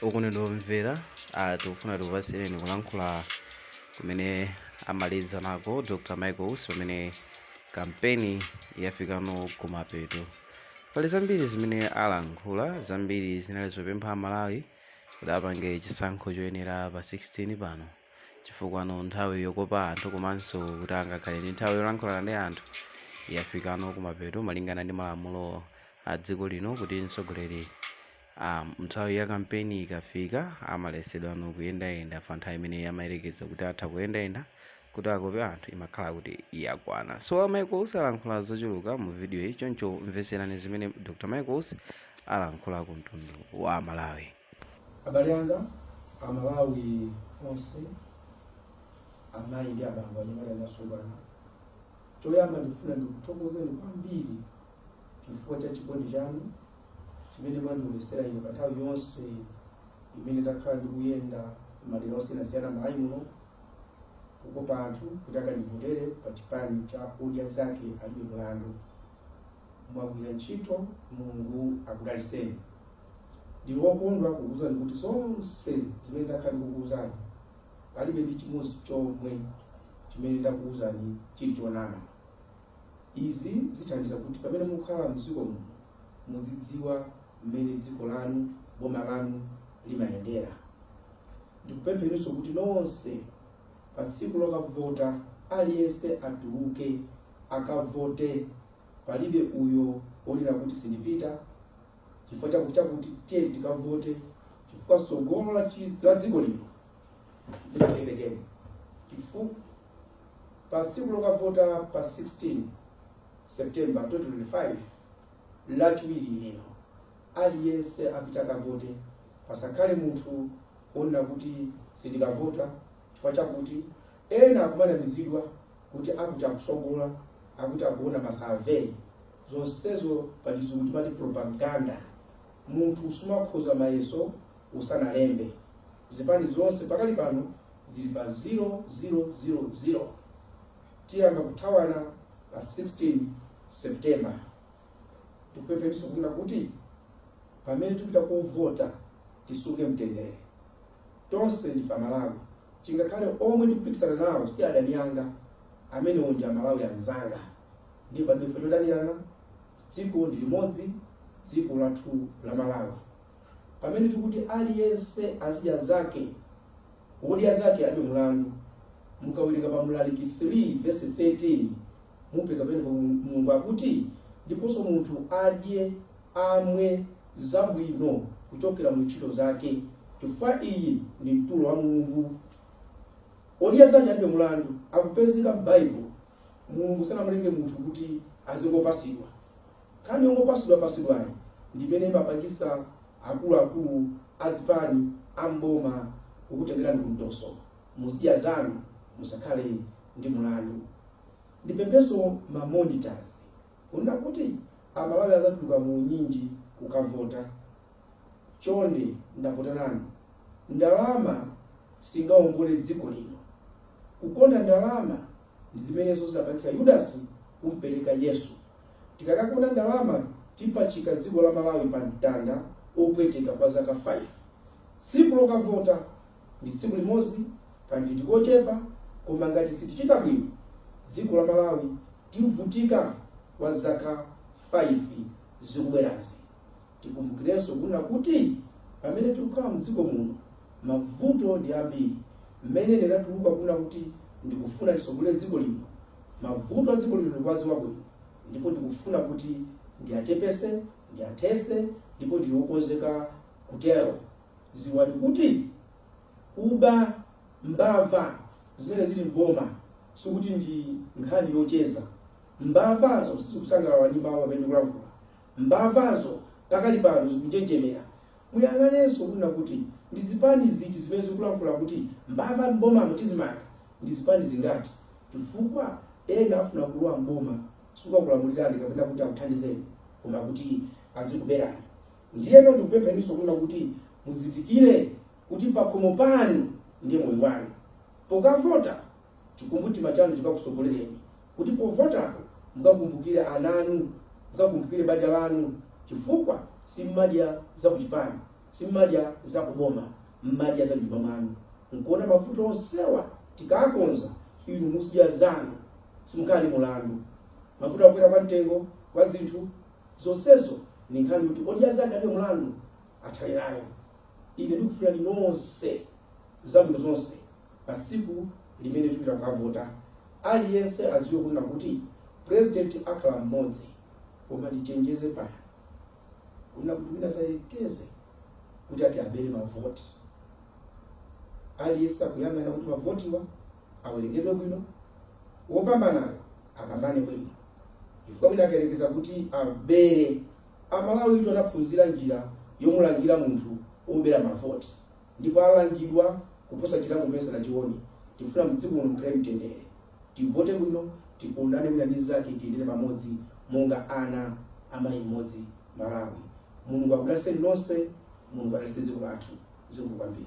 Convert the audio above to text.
Okondedwa omvera, ah, tikufuna tikupatsireni kulankhula kumene amaliza nako Dr. Michael Usi pamene kampeni yafikano kumapeto. Pali zambiri zimene alankhula, zambiri zinali zopempha Amalawi kuti apange chisankho choyenera pa 16 pano. Chifukwano nthawi yokopa anthu komanso kuti angakhale ndi nthawi yolankhulana ndi anthu yafikano kumapeto malingana ndi malamulo a dziko lino kuti mtsogoleri Nthawi ya kampeni ikafika amaletsedwano kuyendayenda pa nthawi imene amayerekeza kuti atha kuyendayenda kuti akope anthu imakhala kuti yakwana. So a Michael Usi alankhula zochuluka mu videoyi choncho mvetserani zimene Dr Michael Usi alankhula ku mtundu wa Amalawi. Abale anga, Amalawi onse, amayi ndi abambo, anyamata ndi asungwana, choyamba ndikufuna ndikuthokozeni kwambiri chifukwa cha chikondi chanu chimene mwandionetsera ine pa nthawi yonse imene ndakhala ndikuyenda madera osiyanasiyana m'Malawi muno kukopa anthu kuti akandivotere pa chipani cha Odya Zake Alibe Mlandu. Mwagwira ntchito, Mulungu akudalitseni. Ndili wokondwa kukuwuzani kuti zonse zimene ndakhala ndikukuwuzani palibe ndi chimodzi chomwe chimene ndakuwuzani chili chonama. Izi zithandiza kuti pamene mukhala m'dziko muno muzidziwa mmene dziko lanu, boma lanu limayendera. Ndikupempheninso kuti nonse pa tsiku lokavota aliyense atuluke akavote. Palibe uyo wonena kuti sindipita chifukwa chakuti chakuti, tiyeni tikavote chifukwa tsogolo la chi- la dziko lino limatengeredwa chifu- Pa tsiku lokavota pa 16 September 2025, Lachiwiri lino, aliyense apite akavote. Pasakhale munthu wonena kuti sindikavota chifukwa chakuti ena akumanamizidwa kuti akuti akutsogola, akuti akuona ma survey. Zonsezo pachizungu timati propaganda. Munthu sumakhoza mayeso usanalembe. Zipani zonse pakali pano zili pa zero zero zero zero. Tiyamba kuthawana pa 16 September. Ndikupempheninso kunena kuti pamene tipita kovota tisunge mtendere. Tonse ndife Amalawi, chingakhale omwe ndikupikisana nawo si adani anga, amenewo ndi Amalawi anzanga ndipo palibe chifukwa chodanirana. Dziko ndi limodzi, dziko lathu la Malawi. Pamene tikuti aliyense azidya zake, odya zake alibe mulandu, mukawerenga pa Mlaliki 3 vesi 13 mupeza pamene Mulungu akuti, ndiponso munthu adye, amwe zabwino kuchokera mu ntchito zake, chifukwa iyi ndi mtulo wa Mulungu. Odya zake alibe mulandu akupezeka m'Baibulo. Mulungu sanamulenge munthu kuti azingopasidwa. Nkhani yongopasidwa pasidwayi ndimene imapangisa akuluakulu azipani am'boma kukutengerani kumtoso. Muzidya zanu musakhale ndi mulandu. Ndipemphenso ma monitors kunena kuti amalawi azatuluka muunyinji kukavota. Chonde ndakutanani, ndalama singaongole dziko lino. Kukonda ndalama ndi zimenezo zidapangitsa Yudasi kumpereka Yesu. Tikakakonda ndalama tipachika dziko la Malawi pa mtanda opweteka kwa zaka 5. Tsiku lokavota ndi tsiku limodzi ka nditi kochepa koma ngati sitichita bwino dziko la Malawi tivutika kwa zaka 5 zikubwerazi. Tikumbukirenso kunena kuti pamene tikukhala m'dziko muno, mavuto ndi ambiri. Mmene ndinatuluka kunena kuti ndikufuna nditsogolere dziko lino, mavuto a dziko lino ndikuwadziwa bwino ndipo ndikufuna kuti ndiachepetse, ndiathetse ndipo ndili wokonzeka kutero. Dziwani kuti kuba, mbava zimene zili m'boma sikuti ndi nkhani yocheza. Mbavazo sizikusangalala ndi mawu amene ndikulankhula. Mbavazo pakali pano zikunjenjemera. Muyang'anenso kunena kuti ndi zipani ziti zimene zikulankhula kuti mbava m'bomamo tizimanga. Ndi zipani zingati? Chifukwa ena afuna kulowa m'boma sikukulamulirani kapena kuti akuthandizeni koma kuti azikuberani. Ndiyeno ndikupempheninso kunena kuti muzindikire kuti pakhomo panu ndiye moyo wanu. Pokavota Chikumbumtima chanu chikakusogolereni kuti povotapo mukakumbukire ana anu, mukakumbukire banja lanu chifukwa simumadya za kuchipani, simumadya za kuboma, mumadya za mnyumba mwanu. Nkuona mavuto onsewa tikakonza inu muzidya zanu simukhala ndi mulandu. Mavuto akukwera kwa mtengo kwa zinthu zonsezo ndi nkhani yoti odya zake alibe mulandu athane nayo. Ine ndikufunirani nonse zabwino zonse. Pa tsiku limene tikupita kukavota, aliyense adziwe kunena kuti president akhala mmodzi koma tichenjeze pano kunena kuti wina asayelekeze kuti ati abere mavoti. Aliyense akuyang'ana kuti mavotiwa awerengedwe bwino, wopambanayo apambane bwino chifukwa wina akayerekeza kuti abere, Amalawitu anaphunzira njira yomulangira munthu wobera mavoti. ndipo alangidwa kuposa chilango chomwe sanachione. Tikufuna mdziko muno mukhale mtendere, tivote bwino, tikondane wina ndi mzake, tiyendere pamodzi monga ana a mayi mmodzi Malawi. Mulungu akudalitseni nonse, Mulungu adalitse dziko lathu. Zikomo kwambiri.